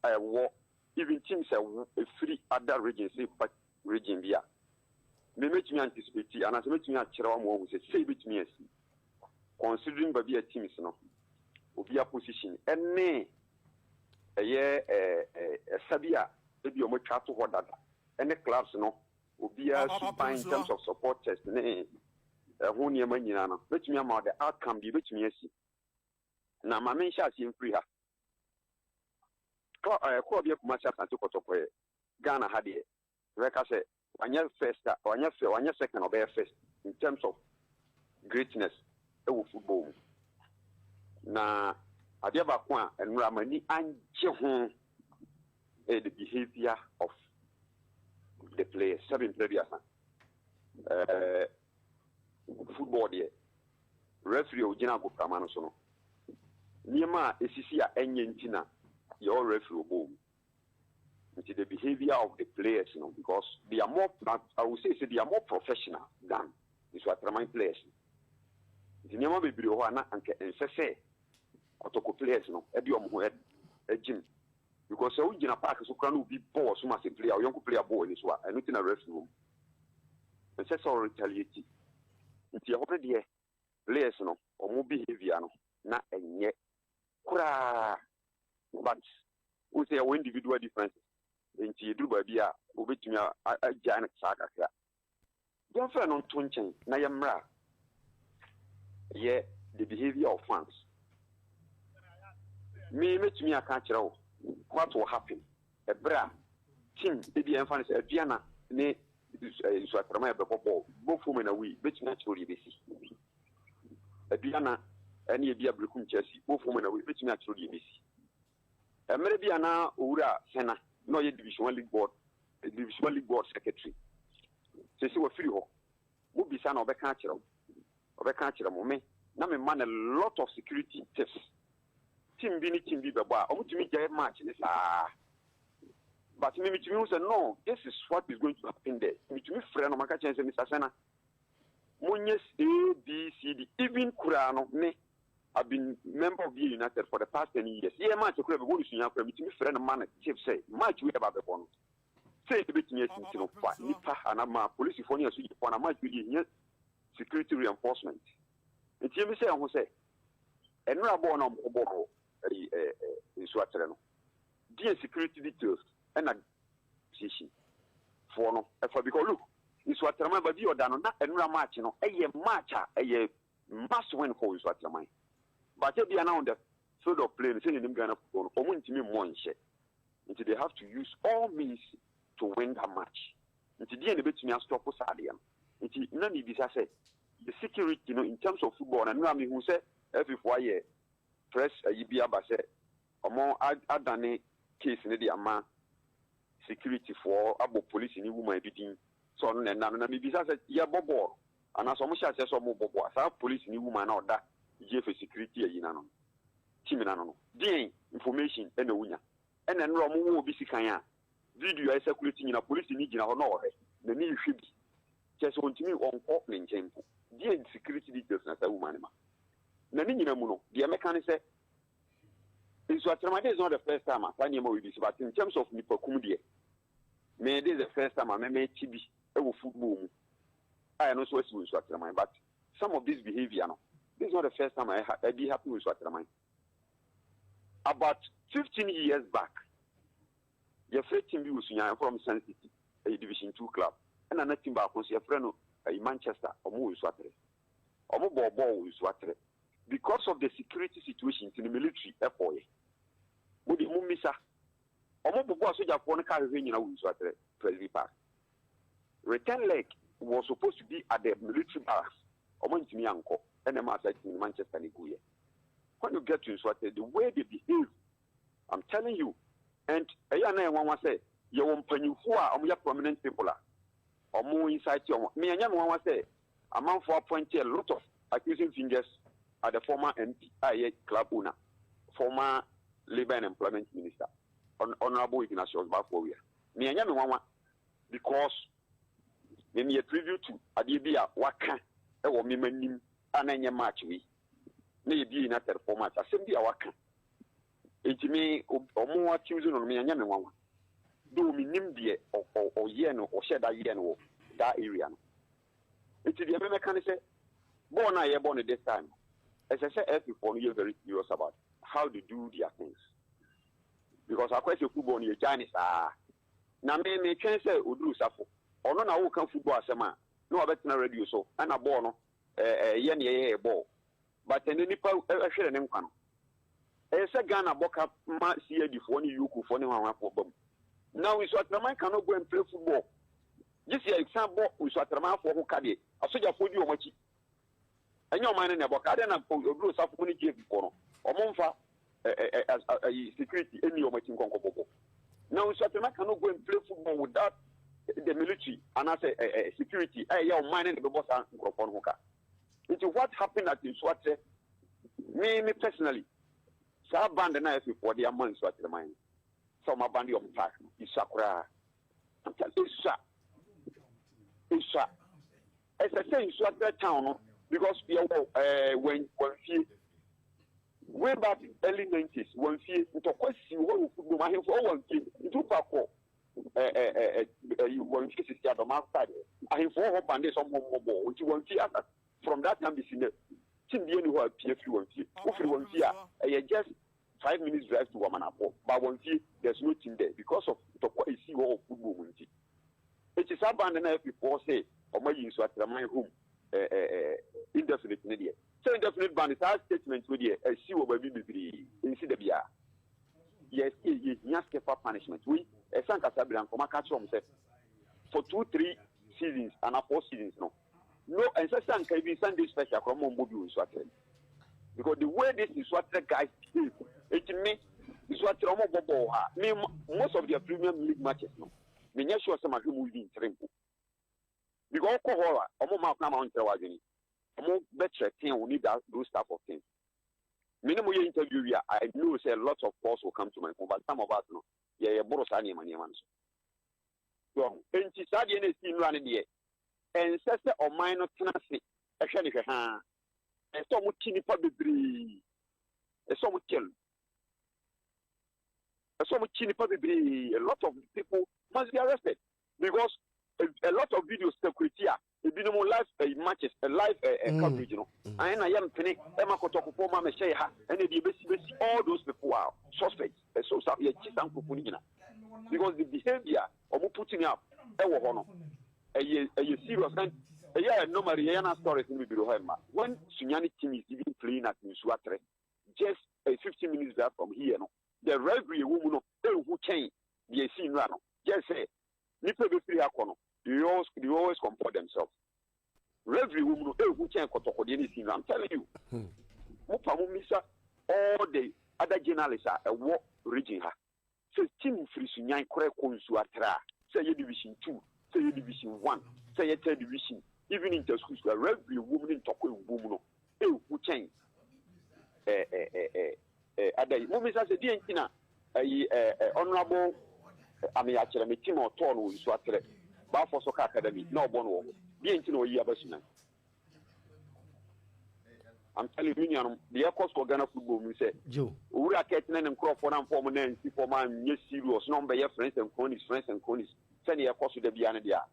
a ɛwɔ even team sɛ wo efiri other region sɛ ba region bi a me mɛtumi anticipate anaasɛ mɛtumi akyerɛ wa ma wahu sɛ sei bɛtumi asi considering baabi a teams no obi a position ɛne ɛyɛ ɛsa bi a ebi ɔmo atwa ato hɔ dada ɛne clubs no obiara suban in terms of supporters ne ɛho nneɛma nyinaa no bɛtumi ama the outcome bi bɛtumi asi na maame nhyɛ aseɛ mfiri ha Kɔ ɛɛ kɔɔ bia Kumasi Asante kɔtɔkɔɛ Ghana ha deɛ yɛbɛka sɛ wanyɛ first a wanyɛ fɛ wanyɛ second ɔbɛyɛ first in terms of greatness ɛwɔ football mu na adeɛ baako a nnora m'ani angye ho ɛyɛ the behaviour of the players sɛbi mpɛ bi asa ɛɛ. Football deɛ, referee a ɔgyina agoprama no so no, nneɛma a ɛsisi a ɛnyɛ nti na yɛwɔ referee ɔbɔɔ mu. Nti the behaviour of the players no because they are more, I will say sɛ they are more professional than Nsuatraman players no. Nti nneɛma bebree wɔ hɔ a na anka ɛnsɛ sɛ Kotoko players no de wɔn ho gyim Because sɛ wo gyina park so koraa na obi bɔ wɔ so ma sɛ player, wo yɔnko player bɔ w'ani so a, ɛno ti na referee wɔ mu. Ɛnsɛ sɛ wo retaliate. Nti ɛhɔ no deɛ players no wɔn behaviour no na ɛnyɛ koraa but wohu sɛ yɛwɔ individual differences nti ɛduru baabi a wobɛtumi agyae no saa kakra Yɛmfrɛ no nto nkyɛn na yɛmmra. Ɛyɛ the behavior of fans. Me mɛtumi aka akyerɛ wo what will happen ɛberɛ a team ebi a yɛmfa no sɛ Aduana ne eh, Nsuatrama yɛbɛbɔ bɔɔl bɔfo mu na wei bɛtumi akyerɛ wo deɛ ɛbɛsi Aduana ɛne ebi a Berekum Chelsea bɔfo mu na wei bɛtumi akyerɛ wo deɛ ɛbɛsi Mmerɛ bi a na Owura Sena na ɔyɛ Division One League Board Division One League Board Secretary. Seesei wafiri hɔ. Mo bisa no a ɔbɛka akyerɛ mo. Ɔbɛka akyerɛ mo. Me na me ma no a lot of security tips. Team bi ne team bi bɛbɔ a, wɔn tumi gyae match ne saa. But me me tumi hu sɛ no, this is what is going to happen there. Me tumi frɛ no, maka kyerɛ no sɛ Mister Sena, Monyɛ A, B, C, D, even koraa no me I've been member of Beer United for the past ten years. Yɛ match koraa mebɔ no sua koraa metumi frɛ no ma no tip sɛ match wei ɛba bɛbɔ no sɛ ebetumi atiti no fa nipa anaa ma polisifoɔ ne asogyafoɔ anaa match wei deɛ hia security reinforcement. Nti yɛn bi sɛ ɛho sɛ ɛnora bɔɔl na ɔmo bɔ no ɛyi ɛɛ nsuatere no. Deɛ security details ɛna association foɔ no ɛfa because look nsuatraman baabi a ɔda no na ɛnura match no ɛyɛ match a ɛyɛ must win for nsuatraman but ebia na on the field of play no sɛ yɛnim Ghana football no wɔn ntumi mmɔ nhyɛ nti they have to use all means to win that match nti deɛ na ebetumi astɔpo saa adeɛ no nti na ne bisa sɛ the security no in terms of football na nura mehu sɛ ɛfifoɔ ayɛ press ayi bi aba sɛ Ɔmo adane case no de ama security foɔ abɔ polisini woman bi din sɛ ɔno na ɛna no na mebisa sɛ yɛ bɔ bɔɔl anaa sɛ ɔmo hyɛ aseɛ sɛ ɔmo bɔ bɔɔl a saa polisini woman no a ɔda Gyefe security ayi no ano no team no ano no deɛn information ɛna ɔnya ɛna nnora ɔmo wɔ obi sikan a video a ɛsakulate nyina polisini gyina hɔ na ɔhwɛ n'ani rehwɛ bi kyɛ sɛ ɔntumi ɔnkɔ ne nkyɛn mpo deɛn security details na saa woman no ma na ne nyina mu no deɛ mɛka ne sɛ Nso atɛmade is not the first time a saa nneɛma wei bi si, but in terms of nipakum deɛ, me this is the first time a me mɛte bi wɔ football mu a ɛno nso asi wɔ nsu atɛmade but some of this behaviour no this is not the first time a ɛbi happen wɔ nsu atɛmade about fifteen years back. Yɛfrɛ team bi wɔ Sunyani ahorow no Sun City, ɛyɛ Division Two club, ɛna na team baako nso yɛfrɛ no Manchester, wɔn wɔ Nsuatere. Wɔn bɔɔ bɔɔl wɔ Nsuatere. Because of the security situation nti no military kɔɔeɛ. Mo deɛ mo mmisa. Wɔn bobɔɔ asogyafoɔ no kaa hwehwɛ nyina wɔ Nsuatere, Presby Park. Return leg was supposed to be at the military barracks, wɔn antumi ankɔ, ɛna ɛmaa saa team no Manchester no guiɛ. When you get to Nsuatere, the way they behave, I'm telling you and ɛyɛ a na yɛ nwanwa sɛ yɛ wɔ mpanyinfoɔ a ɔmo yɛ prominent people a ɔmo incite ɔmo me ɛnyɛ me nwanwa sɛ amanfoɔ appoint a lot of accusing fingers at the former MP a ɛyɛ club owner former labour and employment minister honourable Ignatius Bafo Awia me ɛnyɛ me nwanwa because me meyɛ preview to adeɛ bi a waka ɛwɔ me ma nim a na ɛnyɛ match wei na yɛ bie na tɛrefɔ match asɛm bi a waka Enti me, wɔn atimdze no no, me annyɛ me nwanwa. Though minnyim deɛ ɔyɛɛ no, ɔhyɛɛ da yɛɛ no wɔ daa area no. Enti deɛ me mɛka ne sɛ, bɔɔl no a yɛbɔ no this time no, ɛsɛ sɛ FA foɔ no yɛ very serious about how they do their things. Because akɔyɛ sɛ football no yɛgyae no saa. Na me, me twɛn sɛ Oduru Safo, ɔno na woka football asɛm a, na wabɛtena radio so, ɛna bɔɔl no, ɛɛ, ɛyɛ neɛ yɛyɛ bɔɔl. But ɛnɛ nipa hwere ne nkwa no. Ɛyɛ sɛ Ghana bɔ ka ma CID foɔ ne Yuku foɔ ne hwanhwan foɔ ba mu. Na Nsu Atraman ka no bɔ mpire football. Gye sɛ yɛ san bɔ Nsu Atraman foɔ ho ka deɛ. Asogya foɔ di wɔn akyi. Ɛnyɛ ɔman no na ɛbɔ ka. Adɛn na Oduro Osafo mo ne GF foɔ no wɔn nfa ayi security ɛni wɔn akyi nkɔnkɔ bɔbɔ. Na Nsu Atraman ka no bɔ mpire football without the military anaasɛ security a ɛyɛ ɔman no na ɛbɛbɔ saa nkorɔfoɔ no ho ka. Nti what happened at Nsuakyerɛ? Me me personally, saa band na FA foɔ de ama Nsuakyerɛ man no, sɛ wɔn abande wɔn park no, esua koraa. I'm telling you, esua, esua. Ɛsɛ sɛ Nsuakyerɛ town no, because yɛwɔ ɛɛ wɔn wɔn fie. Way back early 90s, wɔn fie ntɔkwa si hɔ wɔ football mu, ahemfo wɔ wɔn fie, nti wokɔ akɔ. ɛ ɛ ɛ ɛ ɛyi wɔn fi sisi adɔm afta de ahemfo wɔ hɔ bande sɛ ɔmo mmɔ bɔ wɔn ti wɔn fi asa from that time besi nɛ tim bie ni hɔ a pie firi wɔn fie wofiri wɔn fie a ɛyɛ just five minutes drive to wamanafo ba wɔn fie there's no team there because of ntɔkwa esi hɔ wɔ football mu nti eti saa bande na ɛfi fɔɔ sɛ ɔmo ayi nso atraman home ɛ ɛ ɛ indefinite ne deɛ sɛ indefinite bande saa statement no deɛ ɛsi wɔ baabi bebree nsi da biara. Yes ee yehia skeffa punishment wei ɛsɛ ankasa bere anka ɔmo aka akyerɛ ɔmo sɛ for two three seasons anaa four seasons no no ɛnsɛ sɛ anka even Sunday special koraa ɔmo ɔmo bɔ bi wɔ nsu atere no because the way this nsu atere guys behave eti me nsu atere ɔmo bɔ bɔɔl ha me most of their premium league matches no me nyɛ sure sɛ ma hwɛ mu even ntere mpo because ɔkɔ hɔ a ɔmo maa kwan ma ɔnkyerɛ w'adwene ɔmo bɛkyerɛ ten wo need that those type of things Me ne mo yɛ interview wie a, I know sɛ lots of calls will come to my phone but some of us no, yɛ yɛ boro saa nneɛma nneɛma no so. So enti saa deɛ na esi nnura no deɛ, ɛnsɛ sɛ ɔman no tena ase ɛhwɛ ne hwɛ haa. Ɛsɛ sɛ wɔn ti nipa bebree. Ɛsɛ sɛ wɔn kyɛn. Ɛsɛ sɛ wɔn kyi nipa bebree. A lot of people must be arrested because a, a lot of videos security a Ebinom live ɛyi matches ɛ live ɛ ɛ coverage no. Ayi na yɛ mpene ɛma kɔtɔkofo ma mɛhyɛ yɛ ha ɛna ebi ebesi besi all those people are suspects. Ɛso sa yɛ kyi sa nkurɔfo ni nyina because the behavior ɔmo putting up ɛwɔ hɔ no ɛyɛ ɛyɛ serious and ɛyɛ normally yɛ yɛ na stories no bibiri hɔ ɛma when Sunyani team is even playing at Nsuo Atere just a fifteen minutes drive from here no the rivalry ɛwɔ mu no ehu kyɛn deɛ esi nnura no just sɛ Nnipa a ɛbɛfiri ha kɔ no, they always, they always comport themselves. Reverie wɔ mu no, ɛhu kyɛn kɔtɔkɔdeɛ ne sinzan. I'm telling you. Hmm. Mo pa mo misa all the other journalists a ɛwɔ region ha. Sɛ team firi Sunyan korɛ kɔ nsu atra a, sɛ ɛyɛ division two, sɛ ɛyɛ division one, sɛ ɛyɛ third division, even inter schools, reverie wɔ mu ne ntɔkwa ɛwɔ mu no. Ew wo kyɛn eh eh eh eh eh ada yi mo bisa sɛ deɛ nti na ayi eh eh honorable eh, ame akyerɛ me tim a ɔtɔɔ no wɔ nsu aterɛ baafoɔ soccer academy na ɔbɔ no wɔ hɔ deɛ nti na ɔyi aba sunan I'm telling you, nuanom, deɛ ɛkɔ so wɔ Ghana football mu sɛ owura kɛt ne ne nkurɔfoɔ no amfa wɔn nan nsi fam anyɛ serious na wɔbɛyɛ friends and cronies friends and cronies sɛdeɛ ɛkɔ so da biara no deɛ a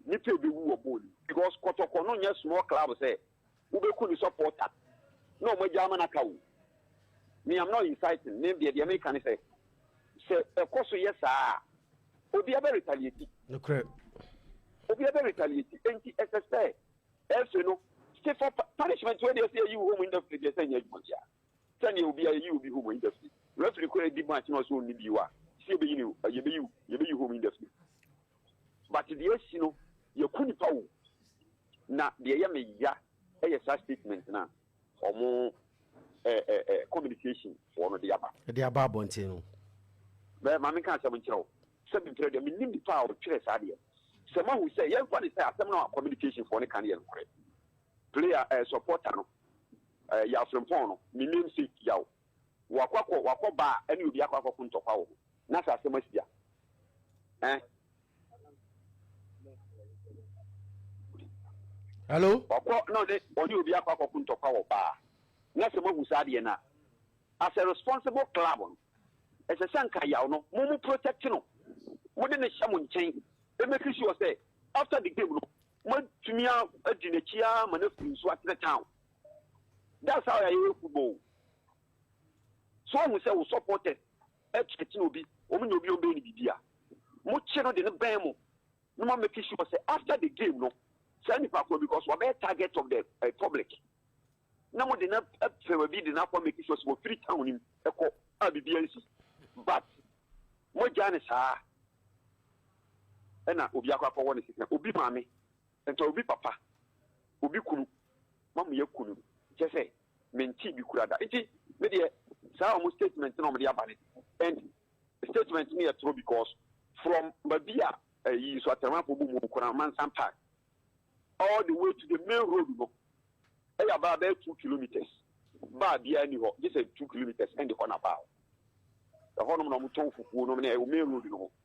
Nipa ebewu wɔ bɔɔl mu because kɔtɔkɔ no nyɛ small club sɛ wobɛku ne supporter na wɔn agya ama no aka o. Me am not inciting me deɛ deɛ meka ne sɛ sɛ ɛkɔ so yɛ saa a obia bɛ retaliate. Nokorɛ. Obia bɛ retaliate enti ɛsɛ sɛ ɛfɛ no stiffer punishment wei deɛ sɛ yɛyi wo home indefinitely deɛ sɛ nyɛ adwuma biara sɛdeɛ obia yɛyi obi home indefinitely referee kora adi match na ɔsɛ ɔnni bio a sɛ yɛbɛyi ne yɛbɛyi yɛbɛyi home indefinitely. But deɛ asi no yɛku nipa o. Na deɛ ɛyɛ me ya ɛyɛ saa statement no a ɔmo eh, eh, eh, communication foɔ no de aba. De aba abɔnten no. Bɛ ma menka asɛm nkyerɛ wo sɛ mentwerɛ deɛ menim nipa a ɔtwerɛ saa deɛ. Sɛ moahu sɛ yɛmfa ne sɛ asɛm no a communication foɔ no ka no yɛ nokorɛ. Player eh, supporter no eh, Yaw Frimpong no, ne namesake Yaw Wakɔ akɔ wakɔ ba a ɛne obi akɔ akɔ ko ntɔkwa wɔ ho na sɛ asɛm asi a ɛn. Hello. Wakɔ na ɔne ɔne obi akɔ akɔ ko ntɔkwa wɔ ba a na sɛ moahu saa adeɛ no a as a responsible club no ɛsɛ sɛ nka yaw no mo mo protect no mo de ne hyɛ mo nkyɛn ɛmɛki sure sɛ after the game no moatumi adi n'akyi a ma no afiri nso atenɛ town That's how yɛyɛ yɛ football. So ohun sɛ wo supporters ɛkyerɛkyerɛ e obi, wɔn nyɛ obi wɔn bɛyɛ ne biribi a, mo kye no de no bɛn mo na mo make sure sɛ after the game no saa nipa koro because wabɛyɛ target of the uh, public na mo de no afɛ baabi de no akɔ make sure sɛ wɔfiri town no mu ɛkɔ a biribi ansi but mo gya ne saa ɛna obi akɔ akɔwɔ ne sika obi maame Ntɔ obi papa, obi kunu ma me aku no, kyerɛ sɛ mentee bi koraa da. Nti me deɛ saa wɔn statement na wɔn de aba no and statement no yɛ toro because from babi a ɛyi nso atɛrɛmafo bɔ mu wɔ Kuramansah park all the way to the main road no ɛyɛ abaa bɛyɛ two kilometres baa biara ni hɔ gye sɛ two kilometres ɛnde hɔ na baa hɔ ɛhɔnom na wɔn tɔn fufuo nom na ɛwɔ main road no ho.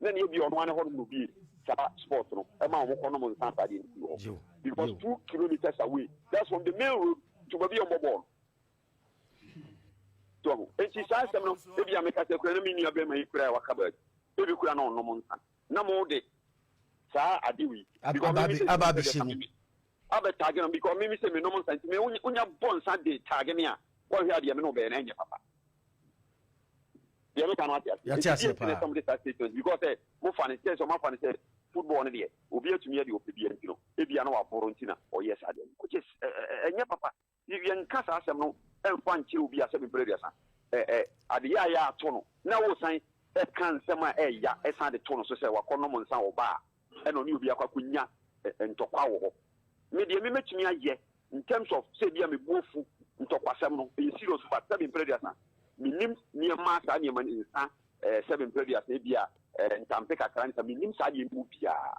na ne ebi ɔno ane hɔ no bi saba sport no ɛma wɔn kɔ nom nsa saa deɛ ne si hɔ because two kilometers away that's from the main road to baabi a wɔn bɔ bɔɔl tɔ ho eti saa asɛm no ebi a meka sɛ kura na mi nua bɛrima yi kura a waka baabi ebi kura na ɔnom nsa na mo de saa adewi. Ababishe mu. Abɛ tag no because me mese menom nsa nti me wonya bɔ nsa de tag me a wɔnhwɛ adeɛ me ne wobɛyɛ na ɛnyɛ papa deɛ meka no ate aseɛ ɛti deɛ ɛtene sɛm de saa statement because sɛ mofa ne sɛ sɛ ɔmafa ne sɛ football no deɛ obi atumi yɛ deɛ ɔpɛ bia nti no ebia na waboro nti na ɔyɛ saa deɛ no which is ɛnyɛ papa Y yɛnka saa asɛm no mfa nkyerɛ obi asɛm mpɛn aduasa. Ɛ ɛ ade yɛ a yɛ ato no na wosan ka nsɛm a ɛyɛ ya san de to no so sɛ wakɔnom nsa wɔ baa a ɛna ɔne obi akɔ akɔnya ɛ ntɔkwa wɔ hɔ. Me deɛ me mɛtumi ayɛ in terms of sɛ ebia me bo afu ntɔkwasɛm no ɛyɛ serious but sɛbe mpɛn aduasa mennim nneɛma a saa nneɛma no nsa ɛ sɛbe mpɛn aduasa ebia ɛ ntampe kakra ne sa mennim saa deɛ no mu biara.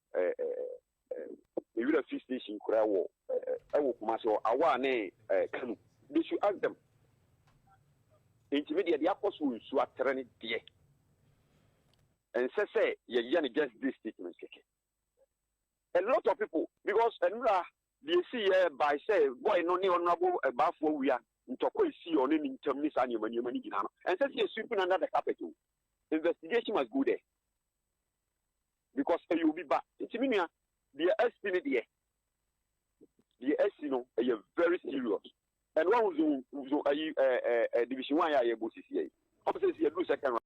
ɛɛ ɛɛ ewira fi station koraa wɔ ɛɛ ɛwɔ kumase hɔ awa ne ɛɛ kanu de su asɛm ntumi deɛ de akɔ so nsu atere ne deɛ ɛnsɛ sɛ yɛyɛ no just this statement kɛkɛ a lot of people because ɛnura deɛ esi yɛ by sɛ boy no ne ɔnurabo ɛbaafo awia ntɔkwa esi ɔne ne ntam ne saa nneɛma nneɛma ne nyinaa no ɛnsɛ sɛ yɛ sweeping under the carpet o investigation must go there. because ɛyɛ obi ba nti me nua deɛ asi no deɛ deɛ asi no ɛyɛ very serious ɛno wahu zo zo ayi ɛɛ ɛɛ division one yɛ a yɛbɔ sisi yɛ ɔmo sɛ si yɛduru second round.